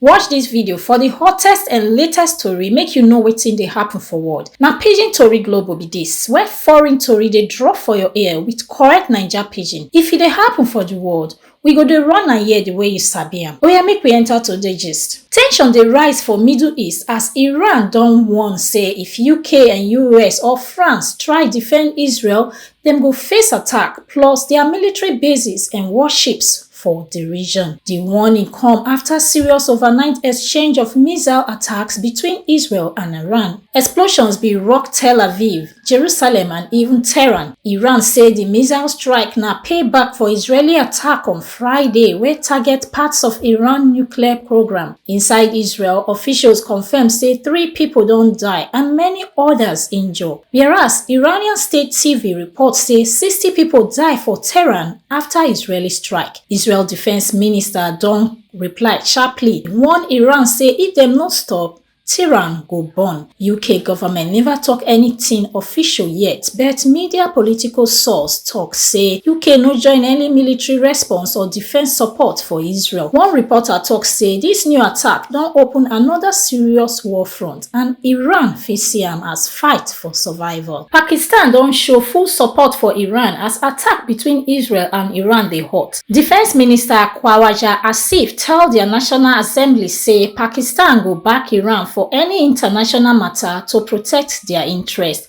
Watch dis video for di hottest and latest tori make you know wetin dey happen for world. Na Pidgin Tori Global be dis, where foreign tori dey drop for your ear with correct Naija Pidgin. If e dey happen for di world, we go dey run am here di way you sabi am. Oya make we enter today gist. Tension dey rise for Middle East as Iran don warn say if UK and US or France try defend Israel, dem go face attack plus dia military bases and warships for di region. Di warning come afta serious overnight exchange of missile attacks between Israel and Iran. Explosions bin rock Tel Aviv, Jerusalem and even Tehran. Iran say di missile strike na payback for Israeli attack on Friday wey target parts of Iran nuclear programme. Inside Israel, officials confirm say three pipo don die and many odas injure. Whereas Iranian state TV report say sixty pipo die for Tehran Afta Israeli strike, Israel defence minister don reply sharply warn Iran say if dem no stop, Tehran go burn. UK government neva tok anytin official yet, but media political source tok say UK no join any military response or defence support for Israel. One reporter tok say dis new attack don open anoda serious war front. and iran fit see am as fight for survival. pakistan don show full support for iran as attack between israel and iran dey hot. defence minister khwawaja asif tell dia national assembly say pakistan go back iran for any international mata to protect dia interests.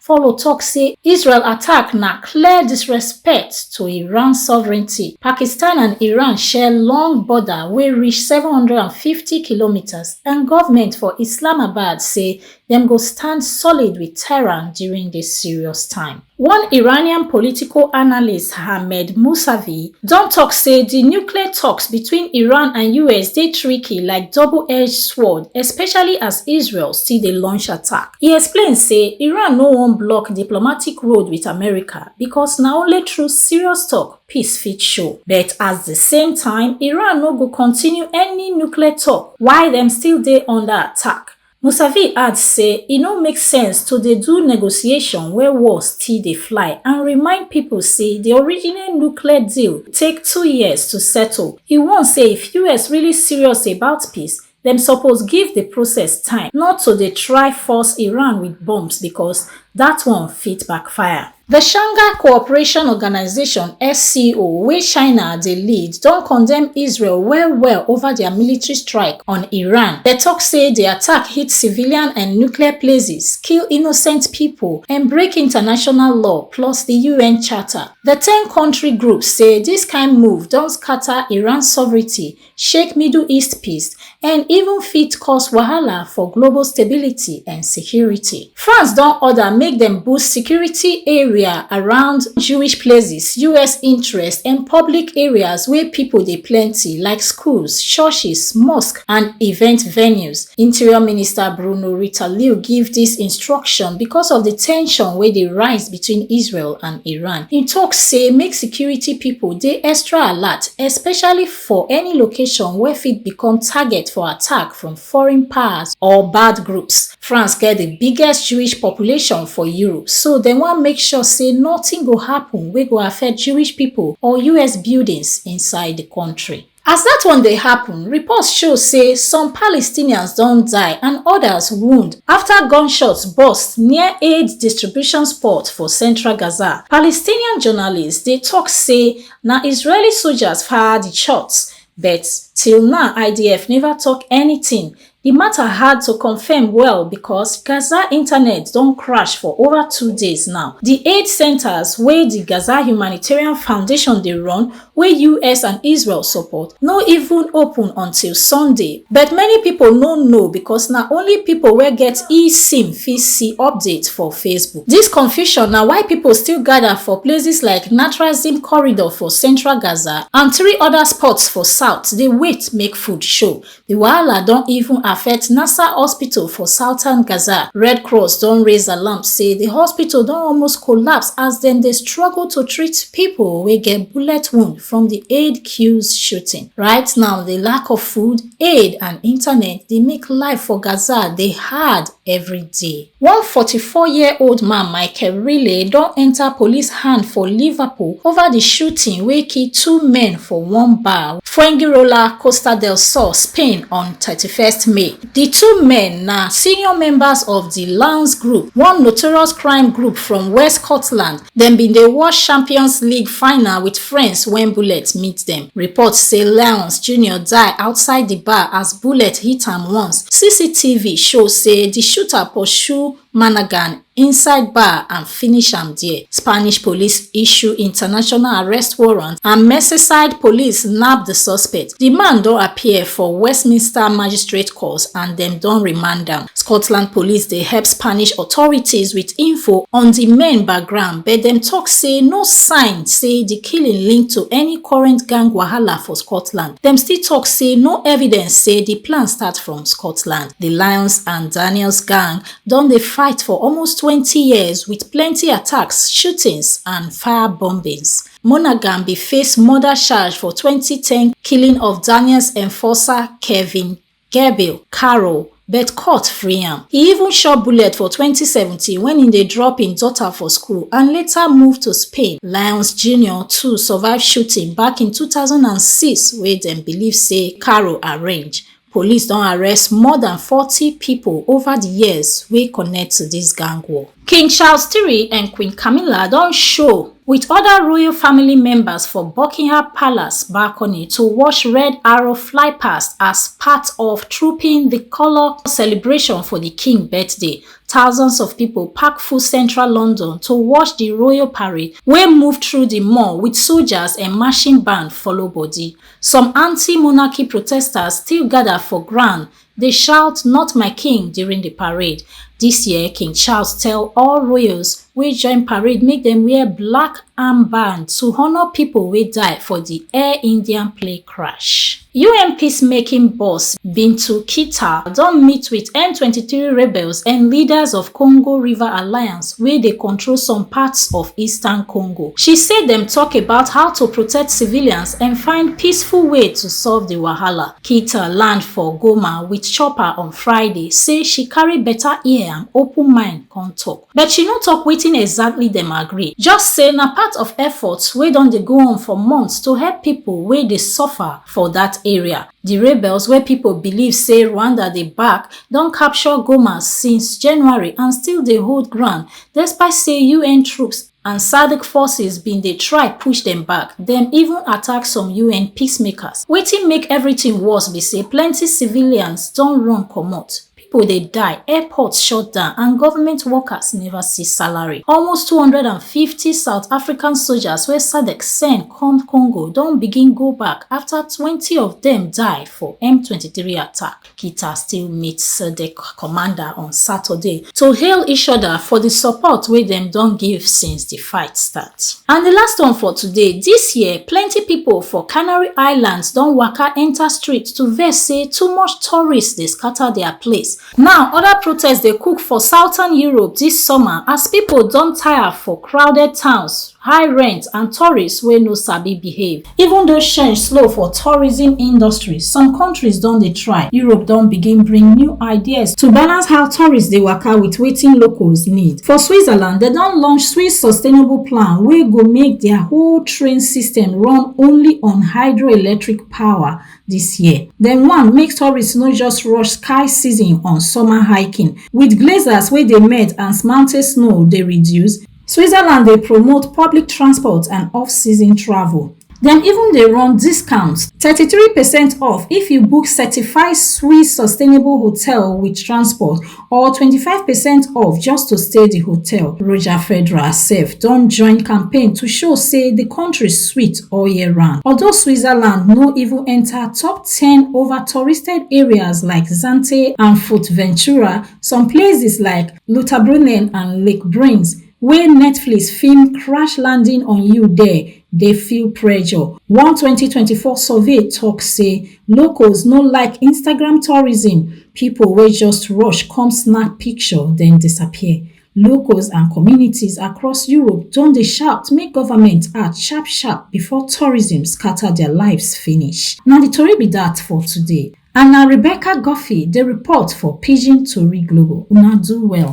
follow tok say israel attack na clear disrespect to iran sovereignty pakistan and iran share long border wey reach 750 kilometres and government for islamabad say dem go stand solid with tehran during dis serious time one iranian political analyst hamed musavi don tok say di nuclear talks between iran and us dey tricky like double-edged sword especially as israel still dey launch attack E explain say Iran no wan block diplomatic road wit America because na only through serious tok peace fit show. But at di same time, Iran no go continue any nuclear tok while dem still dey under attack. Mousavi add say e no make sense to dey do negotiation where war still dey fly and remind pipo say di original nuclear deal take two years to settle. E warn say if us really serious about peace, Dem suppose give di process time, not to dey try force Iran wit bombs becos dat one fit backfire. Di Shanghai Cooperation Organisation, SCO, wey China dey lead, don condemn Israel well-well ova dia military strike on Iran. Dem tok say di attack hit civilian and nuclear places, kill innocent pipo, and break international law plus di UN Charter. Di ten-kontri group say dis kain move don scata Iran sovereignty shake middle east peace and even fit cause wahala for global stability and security. france don order make dem boost security area around jewish places us interest and public areas wey pipo dey plenty like schools churches mosques and event venues interior minister bruno retailleau give dis instruction because of di ten sion wey dey rise between israel and iran e tok say make security pipo dey extra alert especially for any location wey fit become target for attack from foreign powers or bad groups. France get di biggest Jewish population for Europe, so dem wan make sure say nothing go happen wey go affect Jewish people or US buildings inside di country. As dat one dey happen, reports show say some Palestinians don die and others wound after gunshots burst near aid distribution spot for central Gaza. Palestinian journalists dey talk say Na Israeli soldiers fire di shots, but till now IDF neva tok anytin. Di mata hard to confirm well becos Gaza internet don crash for over two days now. Di aid centres wey di Gaza Humanitarian Foundation dey run, wey us and Israel support, no even open until Sunday. But many pipo no know becos na only pipo wey get eSIM fit see updates for Facebook. Dis confusion na why pipo still gada for places like Natrazim corridor for central Gaza and three oda spots for south dey wait make food show. Di wahala don even affect Nasser Hospital for southern Gaza. Red Cross don raise alarm say di hospital don almost collapse as dem dey struggle to treat pipo wey get bullet wound from di aid queues shooting. Right now, di lack of food, aid and internet dey make life for Gaza dey hard every day. One forty four year old man Michael Riley don enta police hand for Liverpool ova di shooting wey kill two men for one bar Fuengirola, Costa del Sol, Spain on thirty first May. Di two men na senior members of di Lounge Group, one notorious crime group from West Scotland Dem bin dey watch Champions League final wit friends wen bullet meet dem. Reports say Leonce Junior die outside di bar as bullet hit am once. CCTV show say di shooter pursue Managan inside bar and finish am dia. Spanish police issue international arrest warrant and Merseyside police nab di suspect. Di man don appear for Westminster Magistrate Court and dem don remand am. Scotland police dey help Spanish authorities wit info on di men background but dem tok say no sign say di killing link to any current gang wahala for Scotland. Dem still tok say no evidence say di plan start from Scotland. Di Lyons and Daniels gang don dey fight for almost twenty years wit plenty attacks, shootings and fire bombings. Monaghan bin face murder charge for twenty ten killing of Daniels enforcer Kevin Gabriel Carroll but court free am. E even chop bullet for twenty seventeen wen im dey drop im daughter for school and later move to Spain. Lyons Junior too survive shooting back in two thousand and six wey dem believe say Carroll arrange Police don arrest more than forty pipo over di years wey connect to dis gang war. King Charles iii and Queen Camilla don show wit oda royal family members for Buckingham Palace balcony to watch Red Arrow fly past as part of Trooping di Colour celebration for di king birthday. Thousands of pipo pack full central London to watch di royal parade wey move through di mall wit soldiers and marching band follow body. Some anti-monarchy protesters still gather for ground dey shout not my king during the parade. This year, King Charles tell all royals wey join parade make dem wear black armband to honour people wey die for the Air Indian plane crash. UN peacemaking boss Bintu Kita don meet with M23 rebels and leaders of Congo River Alliance wey dey control some parts of eastern Congo. She say dem talk about how to protect civilians dem find peaceful way to solve di wahala keita land for goma wit chopper on friday say she carry beta ear and open mind come tok but she no tok wetin exactly dem agree just say na part of efforts wey don dey go on for months to help pipo wey dey suffer for dat area di rebels wey pipo believe say rwanda dey back don capture goma since january and still dey hold ground despite say un troops and sadc forces bin dey try push dem back dem even attack some un peacemakers wetin make everytin worse be say plenty civilians don run comot pipo dey die airports shut down and government workers neva see salary almost two hundred and fifty south african soldiers wey sadc send come congo don begin go back afta twenty of dem die for m twenty three attack Peter still meet Sadek commander on Saturday to hail each other for the support wey dem don give since the fight start. And the last one for today, this year plenty people for Canary Islands don waka enter street to vex say too much tourists dey scatter their place. Now other protests dey cook for southern Europe this summer as people don tire for crowded towns, high rent and tourists wey no sabi behave. Even though change slow for tourism industry, some countries don dey try. Europe don begin bring new ideas to balance how tourists dey waka with wetin locals need. For Switzerland, dem don launch Swiss Sustainable Plan wey go make their whole train system run only on hydroelectric power this year. Dem wan make tourists no just rush sky season on summer hiking. With glaciers wey dey melt and mountain snow dey reduce, Switzerland dey promote public transport and off-season travel. Dem even dey run discounts, thirty-three percent off if you book certified Swiss sustainable hotel with transport or twenty-five percent off just to stay di hotel. Roger Federer sef don join campaign to show say di country sweet all year round. Although Switzerland no even enta top ten over touristed areas like Zante and Fuerteventura, Some places like Lutabrunnen and Lake Brins wey Netflix film Crash Landing on You there dey feel pressure. One 2024 survey talk say locals no like Instagram tourism, people wey just rush come snap picture then disappear. Locals and communities across Europe don dey shout make government act sharp sharp before tourism scatter their lives finish. Na the tori be that for today. and na rebecca guffey dey report for pidgin tori global una do well.